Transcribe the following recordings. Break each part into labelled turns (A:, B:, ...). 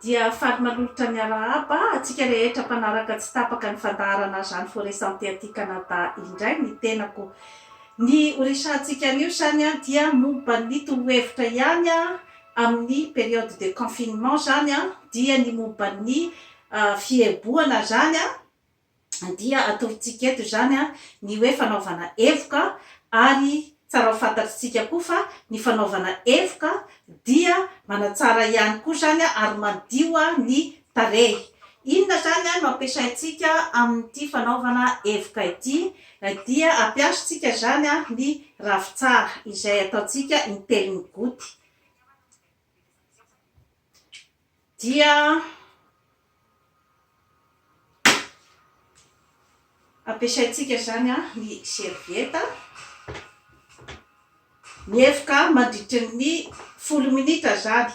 A: Dia faly manolotra ny arahaba antsika rehetra mpanaraka tsy tapaka ny fandaharana Jeanne Forest Santé aty Canada indray ny tenako. Ny ho resahantsika anio izany dia momba ny torohevitra ihany amin'ny période de confinement izany dia ny momba ny fiebohana izany. dia atorontsika eto izany ny hoe fanaovana evoka ary tsara ho fantatritsika koa fa ny fanaovana evoka dia manatsara ihany koa izany ary madio ny tarehy. Inona izany no ampiasaintsika amin'ity fanaovana evoka ity dia ampiasintsika izany ny ravintsara izay ataontsika intelony goty. dia ampiasaintsika izany a ny servieta ny evoka mandritry ny folo minitra zany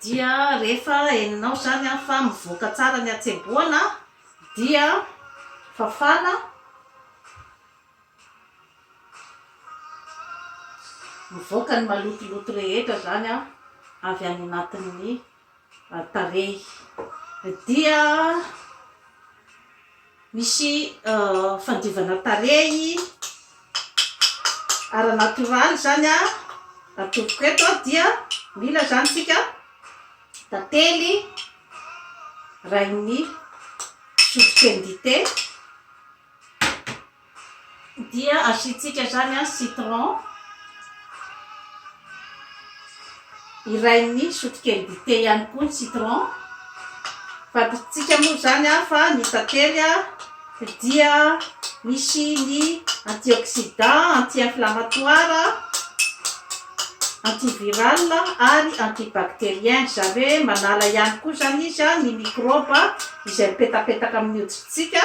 A: Dia rehefa henonao izany fa mivoaka tsara ny hatsebohana dia fafana mivoaka ny malotoloto rehetra izany avy any anatin'ny tarehy dia Misy fandiovana tarehy ara natoraly izany atovoko eto dia mila izany isika tantely rain'ny sotrokelin'dite. dia asiantsika izany an citron iray ny sotrokely dite ihany koa ny citron fantantsintsika moa izany an fa ny tantely an dia misy ny antioxidant anti inflamatoir anti viral ary anti bacterien izany hoe manala ihany koa izany izy an ny microbe izay mipetapetaka amin'ny hoditrintsika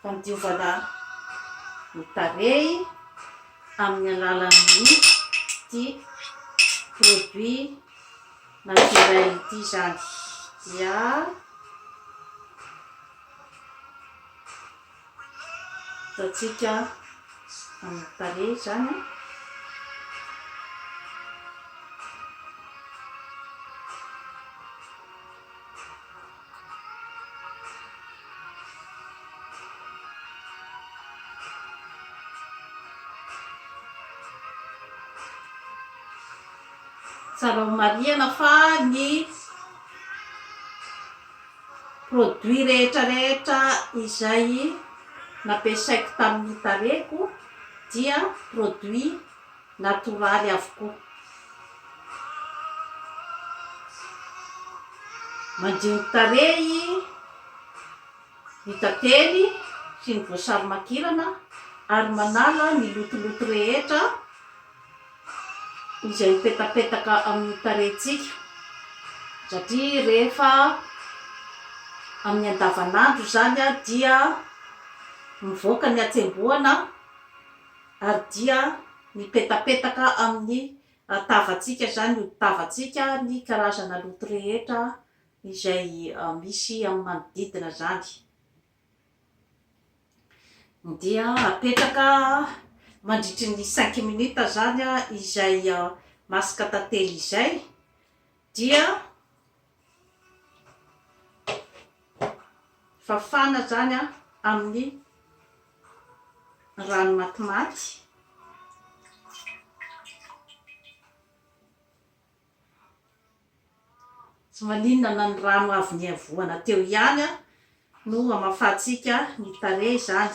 A: fandiovana ny tarehy amin'ny alalan'ity produit naturel ity izany dia ataontsika amin'ny tarehy izany an. Tsara ho marihana fa ny produits rehetrarehetra izay nampiasaiko tamin'ny tarehiko dia produits natoraly avokoa. Mandio ny tarehy ny tantely sy ny voasary makirana ary manala ny lotoloto rehetra izay mipetapetaka amin'ny tarehintsika satria rehefa amin'ny andavanandro izany dia mivoaka ny hatsembohana. Ary dia mipetapetaka amin'ny tavantsika izany, ody tavantsika, ny karazana loto rehetra izay misy amin'ny manodidina izany. Dia apetraka mandritry ny cinq minutes izany izay masque tantely izay, dia. Fafana izany amin'ny rano matimaty. Tsy maninona na ny rano avy niavoana teo ihany no hamafantsika ny tarehy izany.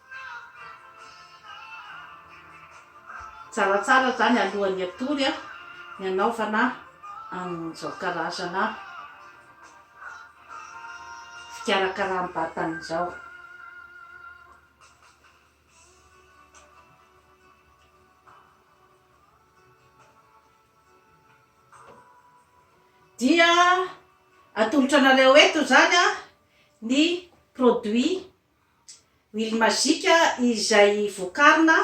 A: Tsaratsara zany alohan'ny hatory a, ny hanaovana an'izao karazana fikarakaram-batana izao. Dia atolotra anareo eto izany ny produit. Huile magique izay vokarina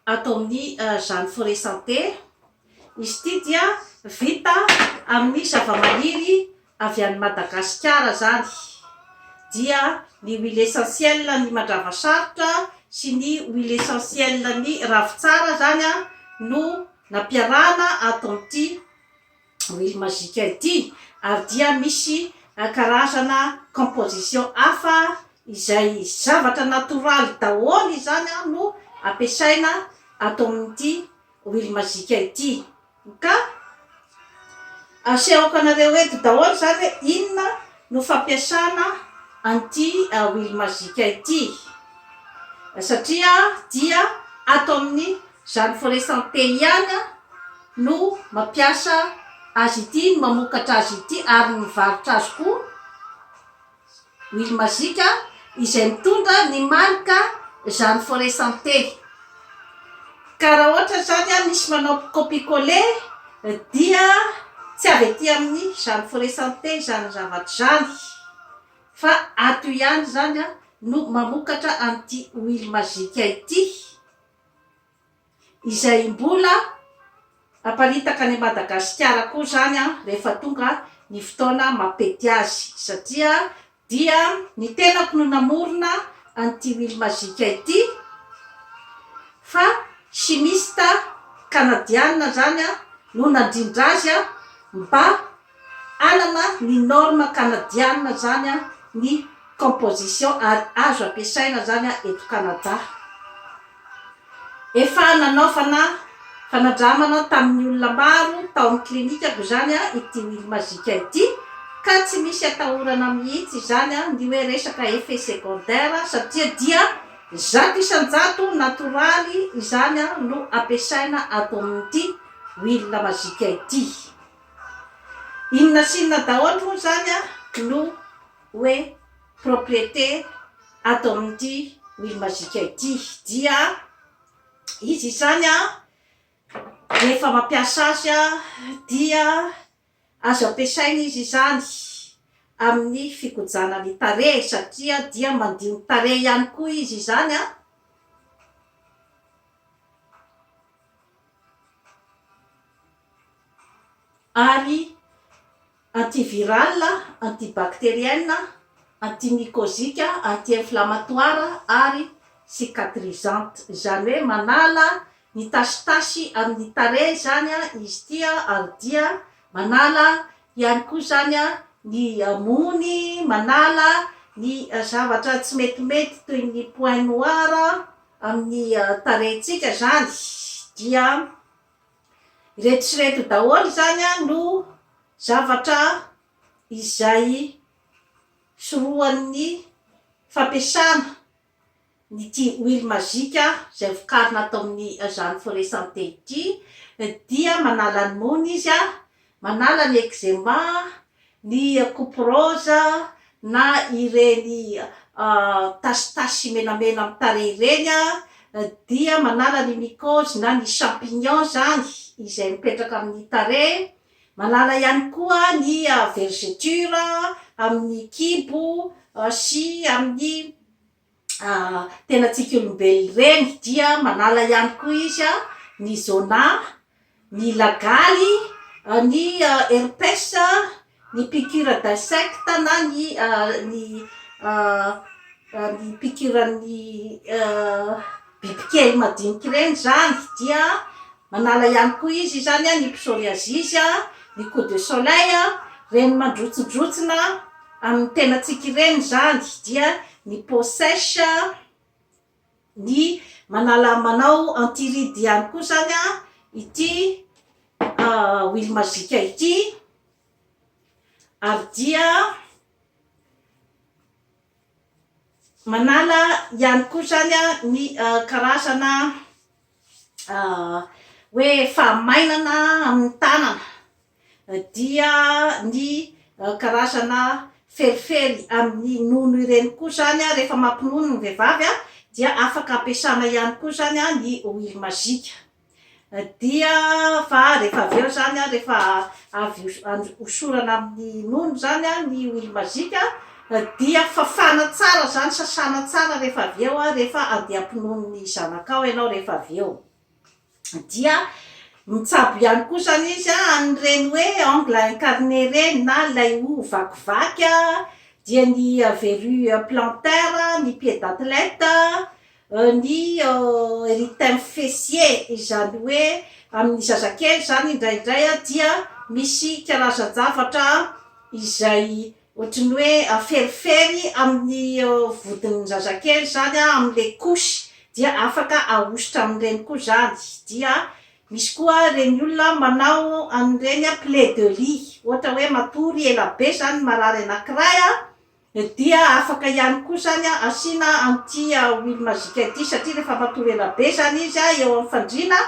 A: ato amin'ny Jeanne Forêt Santé. Izy ity dia vita amin'ny zavamaniry avy any Madagasikara izany. Dia ny huile essentielle an'ny mandravasarotra sy ny huile essentielle an'ny ravintsara izany no nampiarahana ato amin'ity. huile magique ity ary dia misy karazana composition hafa izay zavatra natoraly daholo izany no ampiasaina ato amin'ity huile magique ity ka asehoko anareo eto daholo izany hoe inona no fampiasana an'ity huile magique ity satria dia ato amin'ny Izany Forêt Santé ihany no mampiasa azy ity, no mamokatra azy ity ary ny mivarotra azy koa Huile Magique izay mitondra ny marika izany Forêt Santé. Ka raha ohatra izany misy manao copie coller dia tsy avy aty amin'ny izany Forêt Santé izany zavatra izany fa ato ihany izany no mamokatra an'ity Huile Magique ity. izay mbola haparitaka any Madagasikara koa izany rehefa tonga ny fotoana mampety azy satria dia ny tenako no namorona an'ity Huile Magique ity fa chimiste Kanadiana izany no nandrindra azy mba Hanana ny norme Kanadiana izany ny composition ary azo ampiasaina izany eto Kanada. Efa nanaovana fanandramana tamin'ny olona maro tao amin'ny klinikako izany ity Huile Magique ity ka tsy misy atahorana mihitsy izany ny hoe resaka effet secondaire satria dia zato isan-jato natoraly izany no ampiasaina ato amin'ity Huile Magique ity. Inona sy inona daholo moa izany no hoe propriété ato amin'ity Wheel Magic ity dia izy izany rehefa mampiasa azy dia azo ampiasaina izy izany amin'ny fikojana ny tarehy satria dia mandio ny tarehy ihany koa izy izany. ary antivirale, antibactérienne, antimycosique, anti-inflammatoire ary cicatrisante. Izany hoe manala ny tasitasy amin'ny tarehy izany izy ity ary dia manala ihany koa izany ny mony, manala ny zavatra tsy metimety toy ny point noir. amin'ny tarehintsika izany dia ireto sy ireto daholo izany no zavatra izay sorohan'ny fampiasana an'ity huile magique izay vokarina ato amin'izany forêt santé ity dia manala ny mony izy Manala ny eczema, ny couperose na ireny tasitasy menamena amin'ny tarehy ireny dia manala ny mycose na ny champignon izany izay mipetraka amin'ny tarehy, manala ihany koa ny vergeture amin'ny kibo sy amin'ny tenantsika olombelona ireny dia manala ihany koa izy ny zona, ny lagaly, ny herpes, ny piqûre d'insectes na ny ny ny piqûre an'ny bibikely madinika ireny izany dia. Manala ihany koa izy izany ny psoriasis, ny coup de soleil, ireny mandrotsindrotsina amin'ny tenantsika ireny izany dia ny peau sèche, ny manala manao anti ride ihany koa izany ity huile magique ity ary dia Manala ihany koa izany ny karazana hoe fahamainana amin'ny tanana dia ny karazana felifely amin'ny nono ireny koa izany rehefa mampinono ny vehivavy dia afaka ampiasana ihany koa izany ny huile magique. dia fa rehefa avy eo izany an, rehefa avy hosorana amin'ny nono izany an, ny huile magique an, dia fafana tsara izany, sasana tsara rehefa avy eo an, rehefa andeha hampinono ny zanakao ianao rehefa avy eo, dia mitsabo ihany koa izany izy an, amin'ireny hoe ongle à incarner ireny na ilay hoho vakivaky an, dia ny verrue plantaire, ny pied d'athlète, Ny erythème fessier izany hoe amin'ny zazakely izany indraindray dia misy karazan-javatra izay ohatry ny hoe aferifery amin'ny vodin'ny zazakely izany amin'ilay couche dia afaka ahosotra amin'ireny koa izany dia misy koa ireny olona manao an'ireny plaies de lit ohatra hoe matory elabe izany ny marary anankiray Dia afaka ihany koa izany asiana an'ity huile magique ity satria rehefa matory ela be izany izy eo amin'ny fandriana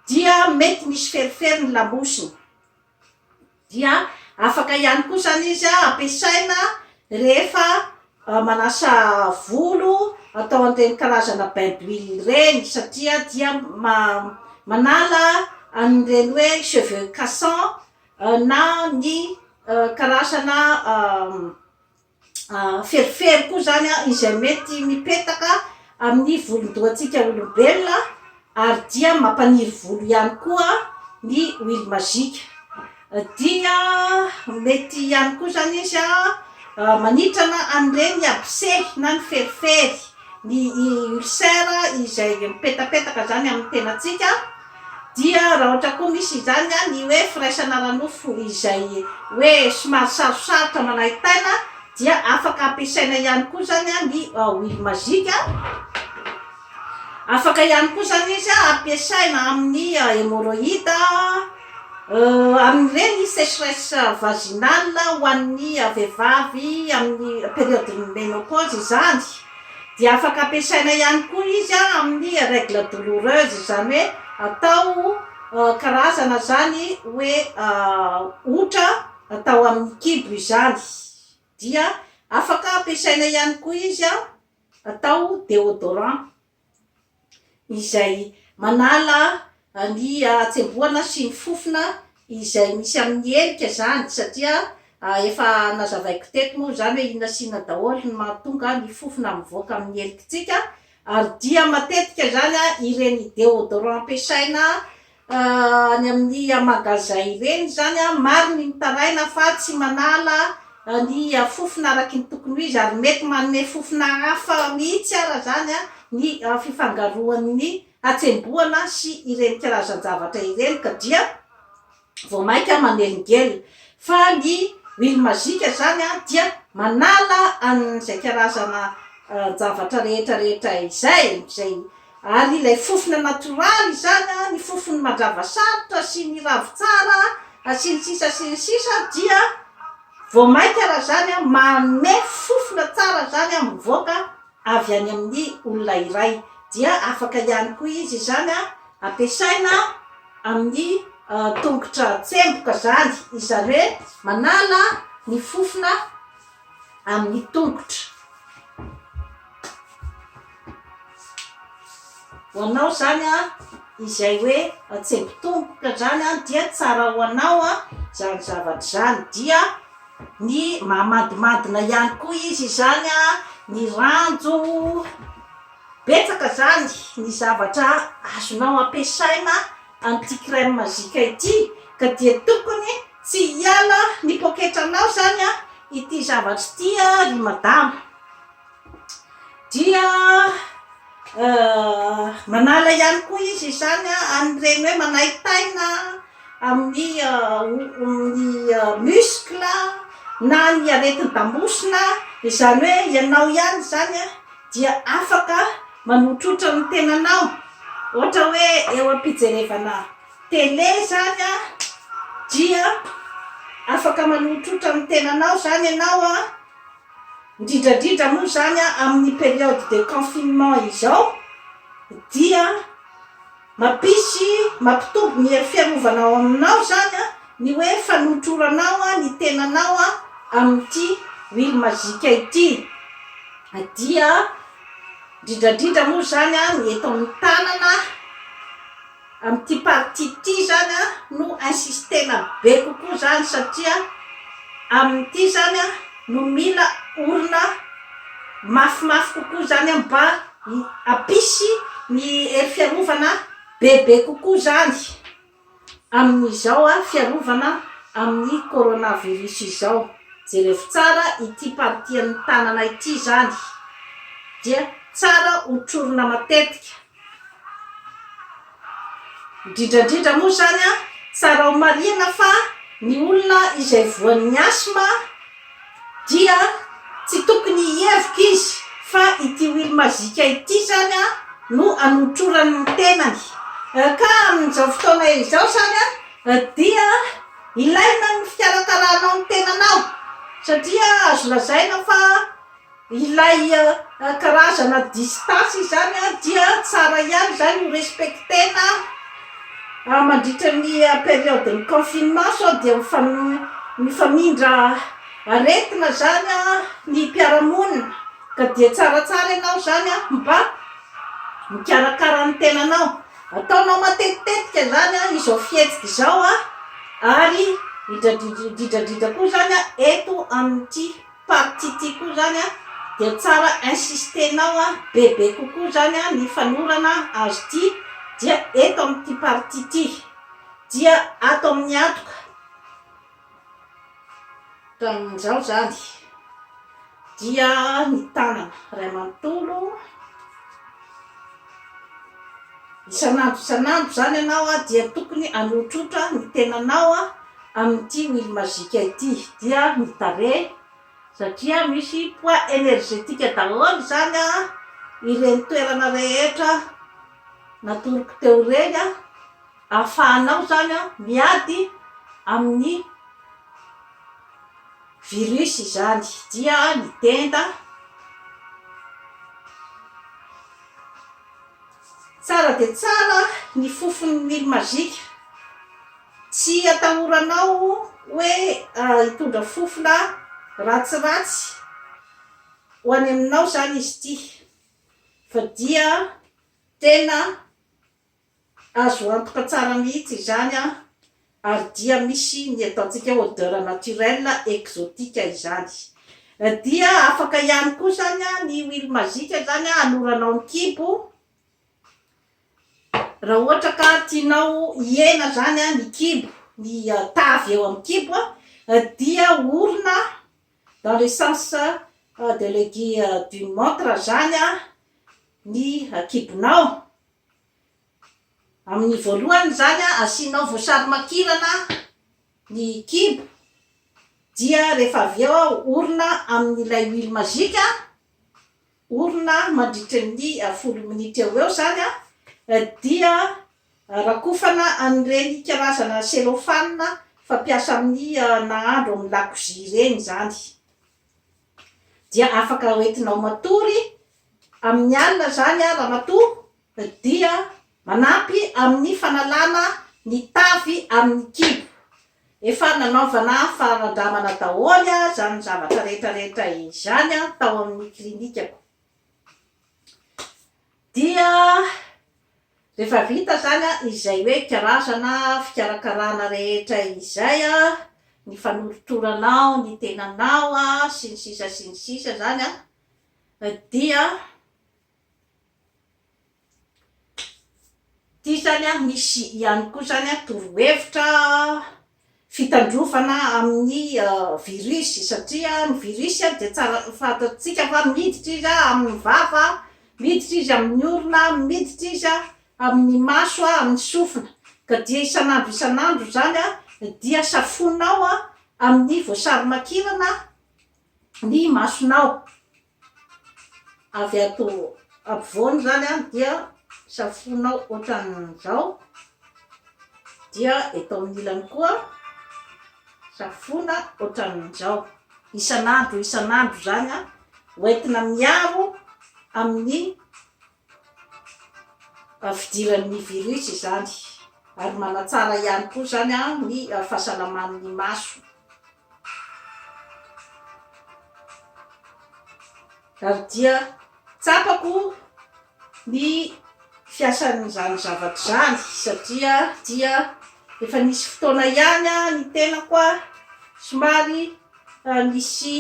A: dia mety misy ferifery ny lamosiny. Dia afaka ihany koa izany izy ampiasaina rehefa manasa volo atao an'ireny karazana bain d'huile ireny satria dia manala an'ireny hoe cheveux cassant. na ny karazana feriferi koa zany a izay mety mipetaka amin'ny volon-dohantsika olombelona ary dia mampaniry volo ihany koa ny huile magique dia mety ihany koa zany izy a manitrana an'ireny abcès na ny feriferi ny ulcère izay mipetapetaka zany amin'ny tenantsika Dia raha ohatra koa misy izany an, ny hoe firaisana ara-nofo izay hoe somary sarosarotra manaintaina dia afaka ampiasaina ihany koa izany an ny huile magique an, afaka ihany koa izany izy an ampiasaina amin'ny hemorroïde an, amin'ireny secheresse vaginale ho an'ny vehivavy amin'ny periode ny menopause izany. dia afaka ampiasaina ihany koa izy amin'ny règle douloureuse izany hoe atao karazana zany hoe otra atao amin'ny kibo izany dia afaka ampiasaina ihany koa izy atao déodorant. izay manala ny hatsembohana sy ny fofona izay misy amin'ny helika izany satria efa nazavaiko teto moa izany hoe inona sy inona daholo no mahatonga ny fofona mivoaka amin'ny helikantsika ary dia matetika izany ireny déodorant ampiasaina any amin'ny magasin ireny izany an, maro ny mitaraina fa tsy manala ny fofona araky ny tokony ho izy ary mety manome fofona hafa mihitsy ara izany an ny fifangaroan'ny hatsembohana sy ireny karazan-javatra ireny ka dia vao mainka manelingelina fa ny huile magique izany an dia manala an'izay karazana javatra rehetra rehetra izay izay Ary ilay fofona natoraly izany an, ny fofon'ny mandrava sarotra sy ny ravintsara an, sy ny sisa sy ny sisa dia vao mainka raha izany an, manome fofona tsara izany an, mivoaka avy any amin'ny olona iray. Dia afaka ihany koa izy izany an, ampiasaina amin'ny tongotra tsemboka izany, izany hoe manala ny fofona amin'ny tongotra. Ho anao izany izay hoe antsembotongotra izany dia tsara ho anao izany zavatra izany. Dia ny mahamadimandina ihany koa izy izany, ny ranjo, betsaka izany ny zavatra azonao ampiasaina an'ity crème magique ity ka dia tokony tsy hiala ny poketranao zany a ity zavatra ity a ry madama dia manala ihany koa izy izany a an'ireny hoe manaitaina amin'ny muscle na ny aretin-damosina izany hoe ianao ihany zany a dia afaka Manotrotra ny tenanao ohatra hoe eo am-pijerevana tele izany an, dia afaka manotrotra ny tenanao izany ianao an, indrindra indrindra moa izany amin'ny période de confinement izao dia Mampisy, mampitombo ny hery fiarovana ao aminao izany ny hoe fanotroranao ny tenanao amin'ity huile magique ity dia indrindra indrindra moa izany ny eto amin'ny tanana amin'ity partie ity izany no insistena be kokoa izany satria amin'ity izany no mila orina mafimafy kokoa izany mba Hampisy ny hery fiarovana bebe kokoa izany amin'izao fiarovana amin'ny coronavirus izao. Jerevo tsara ity partie an'ny tanana ity izany dia tsara hotrorina matetika. Indrindra indrindra moa izany, tsara homarihina fa ny olona izay voan'ny asma dia tsy tokony hihevoka izy fa ity huile magique ity izany no anotrorany ny tenany. Ka amin'izao fotoana izao izany dia ilaina ny fikarakaranao ny tenanao satria azo lazaina fa. Ilay karazana distance izany dia tsara ihany izany ho respecter-na mandritra ny période-n'ny confinement sao dia mifamindra aretina izany ny mpiara-monina ka dia tsaratsara ianao izany mba mikarakara ny tenanao. Ataonao matetitetika izany izao fihetsika izao ary indrindra indrindra koa izany eto amin'ity. Part ity koa zany a dia tsara insistenao a bebe kokoa zany a ny fanorana azy ity dia eto amin'ity partie ity dia ato amin'ny hatoka tamin'izao zany dia ny tanana ray manontolo Isan'andro isan'andro izany ianao dia tokony hanohotrohotra ny tenanao amin'ity huile magique ity dia ny tarehy satria misy poids energetique daholo izany ireny toerana rehetra natoroko teo ireny ahafahanao izany miady amin'ny Virus izany dia ny tenda tsara dia tsara ny fofony mily magique tsy atahoranao hoe hitondra fofona ratsiratsy ho any aminao izany izy ity fa dia tena Azo antoka tsara mihitsy izany an! Ary dia misy ny eto antsika odeur naturelle exotique izany. Dia afaka ihany koa izany an ny huile magique izany an hanoranao ny kibo, raha ohatra ka tianao hihena izany an ny kibo, ny tavy eo amin'ny kibo an, dia orina dans le sens de l'aiguille d'une montre izany an ny kibonao. Amin'ny voalohany izany asianao voasary makirana ny kibo dia rehefa avy eo orina amin'ilay huile magique, orina mandritry ny folo minitra eo ho eo izany dia rakofana an'ireny karazana cellophane fampiasa amin'ny nahandro amin'ny lakozia ireny izany. dia afaka hoentinao matory amin'ny alina izany aho ramatoa dia manampy amin'ny fanalana ny tavy amin'ny kibo. Efa nanaovana fanandramana daholo izany zavatra rehetra rehetra izany tao amin'ny klinikako. Dia Rehefa vita izany izay hoe karazana fikarakarana rehetra izay, ny fanolotoranao ny tenanao sy ny sisa sy ny sisa izany dia, ity izany misy ihany koa izany torohevitra fitandrovana amin'ny virus satria ny virus dia tsara fantatsika fa miditra izy amin'ny vava, miditra izy amin'ny orona, miditra izy amin'ny maso, amin'ny sofina ka dia isan'andro isan'andro izany dia safoinao amin'ny voasarimakirana ny masonao. avy ato ampovoany izany an dia safoinao ohatran'izao, dia eto amin'ny ilany koa safoina ohatran'izao, isan'andro isan'andro izany an, hoentina miaro amin'ny Ary fidiran' ny virus izany. Ary manatsara ihany koa izany ny fahasalaman' ny maso. Ary dia tsapako ny fiasan' izany zavatra izany satria dia efa nisy fotoana ihany ny tenako somary nisy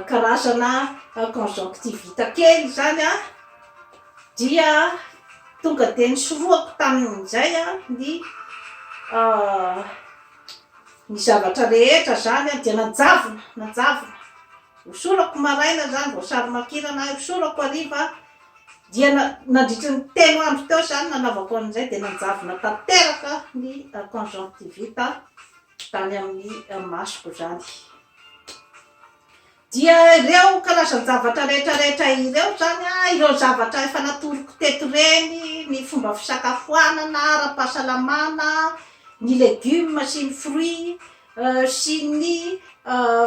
A: karazana conjonctivite kely izany an, dia tonga dia nisorohako tamin'izay ny ny zavatra rehetra izany dia nanjavona, nanjavona, hosorako maraina izany vao sarimakirana ahy, hosorako hariva, dia na- nandritra ny telo andro teo izany nanaovako an'izay dia nanjavona tanteraka ny conjonctivite. Tany amin'ny masoko izany. Dia ireo karazan-javatra rehetra rehetra ireo izany an, ireo zavatra efa natoroko teto ireny, ny fomba fisakafoanana ara-pahasalamana, ny legumes sy ny fruits, sy ny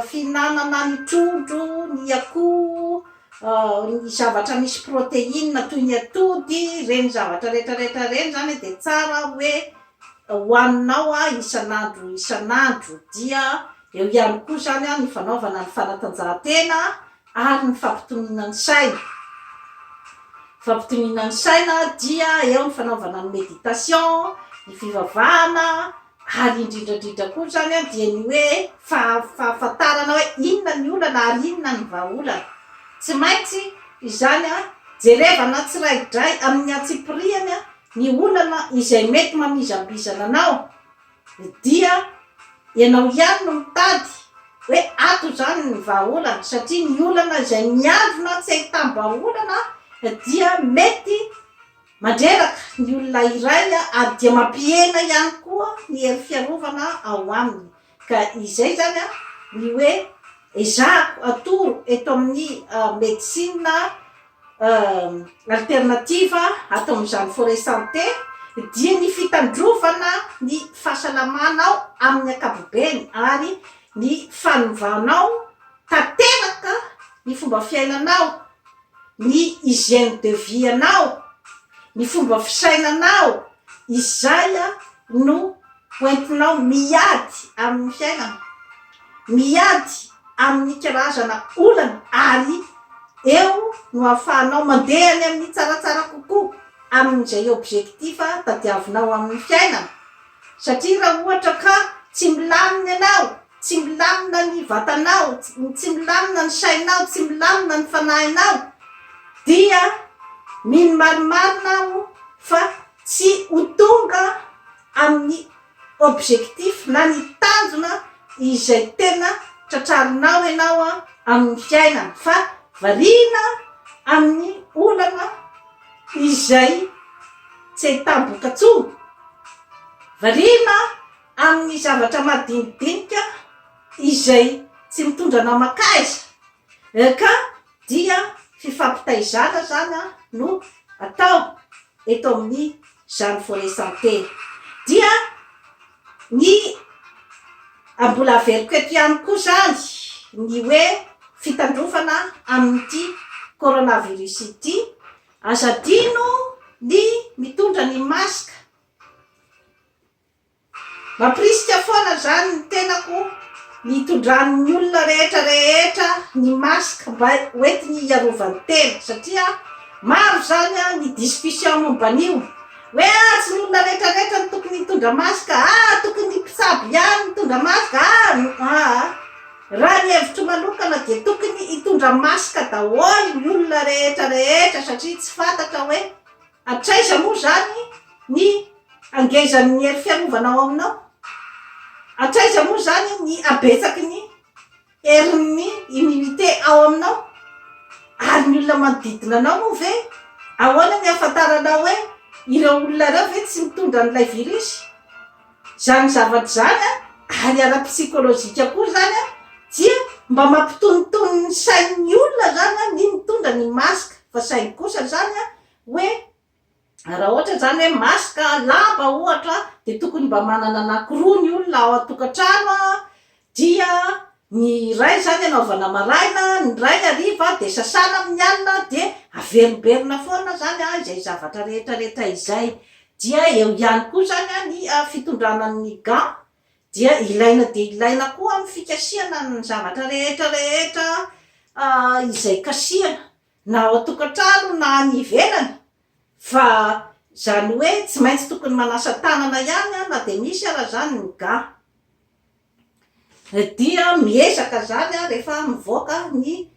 A: fihinanana ny trondro, ny akoho, ny zavatra misy protéines toy ny atody, ireny zavatra rehetra rehetra ireny izany dia tsara hoe hohaninao isan'andro isan'andro, dia eo ihany koa izany ny fanaovana ny fanatanjahantena ary ny fampitoniana ny saina, fampitoniana ny saina dia eo ny fanaovana ny méditation, ny fivavahana ary indrindra indrindra koa izany an dia ny hoe fahafantarana hoe inona ny olana ary inona ny vahaolana, tsy maintsy izany jerevana tsiraidray amin'ny antsipiriany Ny olana izay mety mamizambizana anao dia ianao ihany no mitady hoe ato izany ny vahaolana satria ny olana izay miandrona tsy ahitam-bahaolana dia mety mandreraka ny olona iray ary dia mampihena ihany koa ny hery fiarovana ao aminy. Ka izay izany ny hoe ezahako atoro eto amin'ny medecine alternative ato amin'izany Forest Santé dia ny fitandrovana ny fahasalamanao amin'ny ankapobeny ary ny fanovanao tanteraka ny fomba fiainanao, ny hygiène de vie anao, ny fomba fisainanao, Izay no hoentinao miady amin'ny fiainana, miady amin'ny karazana olana ary eo no ahafahanao mandeha any amin'ny tsaratsara kokoa amin'izay objectif tadiavinao amin'ny fiainana satria raha ohatra ka tsy milamina ianao, Tsy milamina ny vatanao, tsy milamina ny sainao, tsy milamina ny fanahinao, dia mino marimarina aho fa tsy ho tonga amin'ny objectif na ny tanjona izay tena tratrarinao ianao amin'ny fiainana fa variana amin'ny olana izay tsy ahitam-bokatsoa, variana. Amin'ny zavatra madinidinika izay tsy mitondra naman-kaiza ka dia fifampitaizana izany no atao eto amin'izany volet santé dia ny mbola averiko eto ihany koa izany ny hoe fitandrovana amin'ity coronavirus ity, aza adino ny mitondra ny masque. Mampirisika foana izany ny tenako ny hitondran'ny olona rehetra rehetra ny masque mba hoentiny hiarovany tena satria maro izany ny discussion momba an'io hoe ah tsy ny olona rehetra rehetra no tokony hitondra masque ah tokony ny mpitsabo ihany no hitondra masque ah aa raha ny hevitro manokana dia tokony hitondra masque daholo ny olona rehetra rehetra satria tsy fantatra hoe Hatraiza moa izany ny hangezan'ny hery fiarovana ao aminao? Hatraiza moa izany ny habetsaky ny herin'ny immunité ao aminao? Ary ny olona manodidina anao moa ve? Ahoana ny ahafantaranao hoe ireo olona ireo ve tsy mitondra an'ilay virus? Izany zavatra izany, ary ara-psikolojika koa izany, dia mba mampitonitony ny sain'ny olona izany ny mitondra ny masque, fa saingy kosa izany hoe raha ohatra izany hoe masque lava ohatra dia tokony mba manana anakiroa ny olona ao an-tokantrano Dia ny iray izany anaovana maraina, ny iray hariva, dia sasana amin'ny alina, dia averimberina foana izany izay zavatra rehetra rehetra izay. Dia eo ihany koa izany ny fitondrana ny ga, dia ilaina dia ilaina koa amin'ny fikasihana ny zavatra rehetra rehetra izay kasihana. na ao an-tokantrano na any ivelany fa izany hoe tsy maintsy tokony manasa tanana ihany na dia misy ara izany ny ga dia miezaka izany aho rehefa mivoaka ny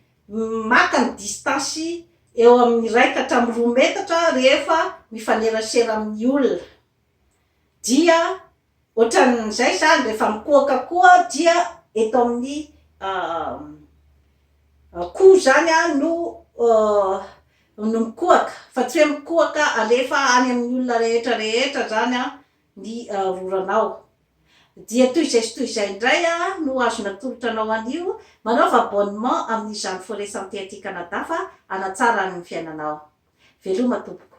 A: maka ny distance eo amin'ny iray ka hatramin'ny roa metatra rehefa mifanerasera amin'ny olona dia Ohatran'izay izany rehefa mikohaka koa dia eto amin'ny koho izany no no mikohaka fa tsy hoe mikohaka alefa any amin'ny olona rehetra rehetra izany ny roranao. Dia toy izay sy toy izay indray no azo natolotra anao anio, manaova abonnement amin'izany Forêt Santé aty Canada fa hanatsara ny fiainanao. Veloma tompoko.